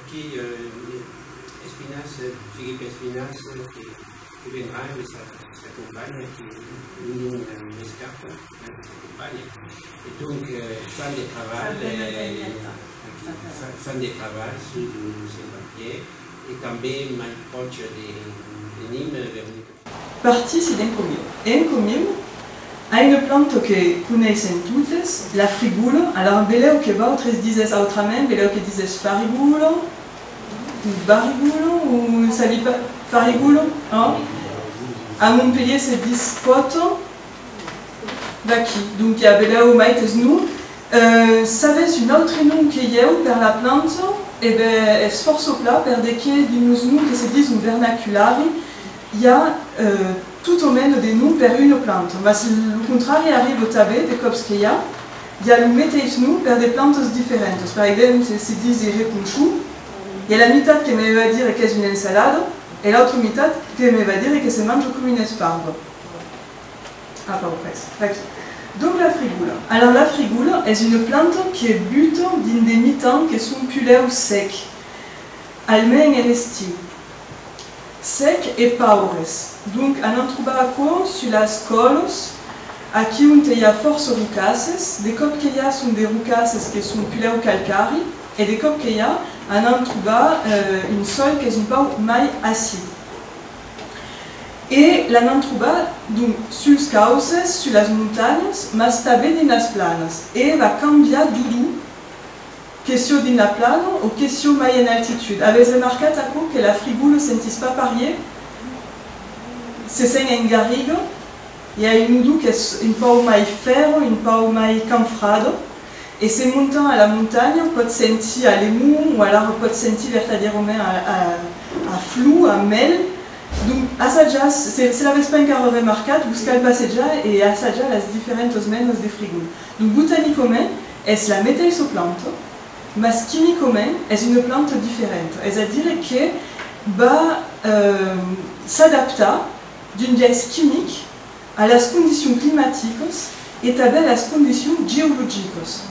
Aquí Espinas, Filipe Espinas que vendrà e sa companha que non m'escapa sa companha e donc fan de trabalh fan de trabalh sus lo Saint-Bartier e tanben mai pròche de Nîmes Partís d'encomiu. Encomiu a une planta que coneissèm totes, la frigula. Alara, belèu que vautres disètz autrament, belèu que disètz farigula o barigula o sabi pas, farigula, òh? A Montpelhier se dis pòta d'aquí, donc a belèu maites non. S'avètz un autre nom que ieu per la planta, e ben ètz fòrça pla, perdeque dins los noms que se dison vernaculari, I a tot o meno de nom per una planta, mas lo contrari arriba tanben de còps que i a i a lo meteis nom per de plantas diferentas. Per exemple, se disi reponchon, i a la mitat que me va dire qu'es una ensalada e l'autra mitat que me va dire que se manja coma una esparva. A pas pres. Aquí. Donc la frigola. Alors la frigola es una planta que buta dins de mitan que son pulèu sec, almens en estiu. Sec e paures. Donc a n'an trobar aquò sus las còlos, aquí onte i a fòrça rocasses, de còp que i a son de rocasses que son pulèu calcari e de còp que i a a n'an trobar un sòl qu'es un pauc mai acid. E la n'an trobar donc suls cauces, sus las montanhas, mas tanben dins las planas e va cambiar dodou. Que sieu dins la plana o que sieu mai en altitud, avètz remarcat aquò que la frigou ne sentís pas parier? Se sent en garriga, i a un dou qu'es un pauc mai fèrro, un pauc mai canfrado, e se montam a la montanha pòtz sentir a lemon o alara pòtz sentir vertadièrament a a flou, a mèl. Donc assajatz, se l'avètz pas encara remarcat, vos cal passejar e assajatz las diferentas menas de frigou. Lo botanicament es la meteissa planta, mas quimicament es una planta diferenta, es a dire que va s'adaptar d'un biais quimic a las condicions climaticas e tanben a las condicions geologicas.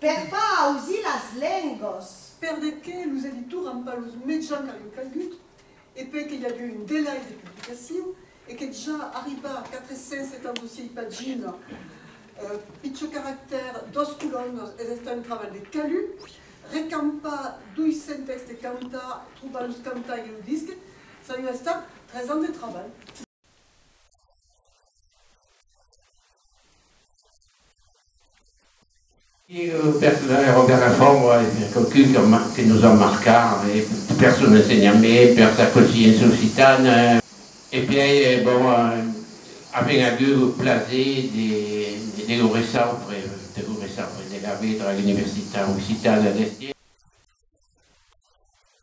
Per pas ausir las lengos. Per de que los editors an pas los mejans car ieu calgut e per que i ague un delai de publicacion e que ja arribar a 476 pagina pichó caractèr dos colonnas es estar un trabalh de calud recampar 200 textes cantar trobar los cantar ieu disc ç'a ieu estar tres ans de trabalh. Era Robert Lafont a èsser quauqu'un que nos a marcat per son ensenhament, per sa consciéncia occitana e per aer bon, avèm agut lo plaser de lo recebre, de lo recebre, de l'aver dra l'Universitat Occitana d'Estièr.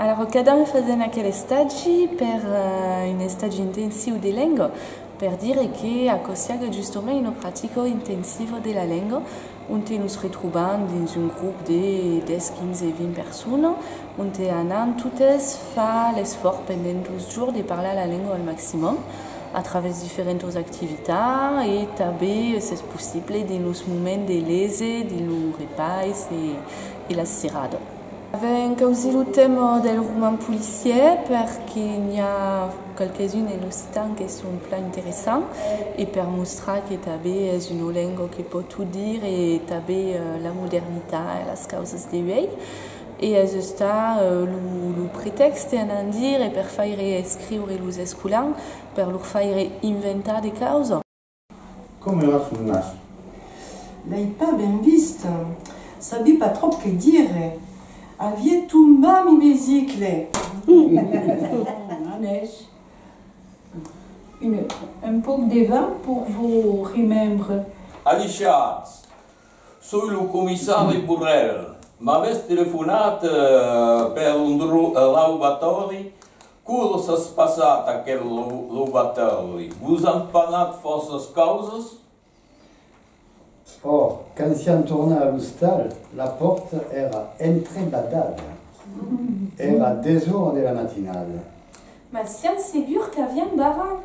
Alara cada un fasent aquel estagi per un estagi intensiu de lenga, per dire que aquò siague justomai una practica intensiva de la lenga onte nos retrobam dins un grop de 10, 15, 20 persona onte anam totes far l'esfòrç pendent dos jorns de parlar la lenga al maximum a travèrs diferentas activitats e tanben s'es possible dins los moments de lese, dins lo repais e la sirada. Avèm causir lo tèma del roman policièr perque n'i a qualques uns en occitan que son plan interessants e per mostrar que tanben es una lenga que pòt tot dire e tanben la modernitat e las causas de uèi e es estat lo pretèxte a n'an dire e per faire escriure los escolans per lor faire inventar de causas. Com era son nas? L'ai pas ben vist. Sabi pas tròp que dire. Avie tombat mi bicicle. Anèsh, un pauc de vin pour vos remembres. Alichatz! Soi lo comissari Borrell. M'avètz telefonat per un raubatòri Quolos as passat aquel loubatèrli? Vos an panat fòrças causas? Ò, quand siam tornat a l'ostal, la pòrta èra entrebadada. Èra desora de la matinada. Mas siam segur qu'aviam barrat.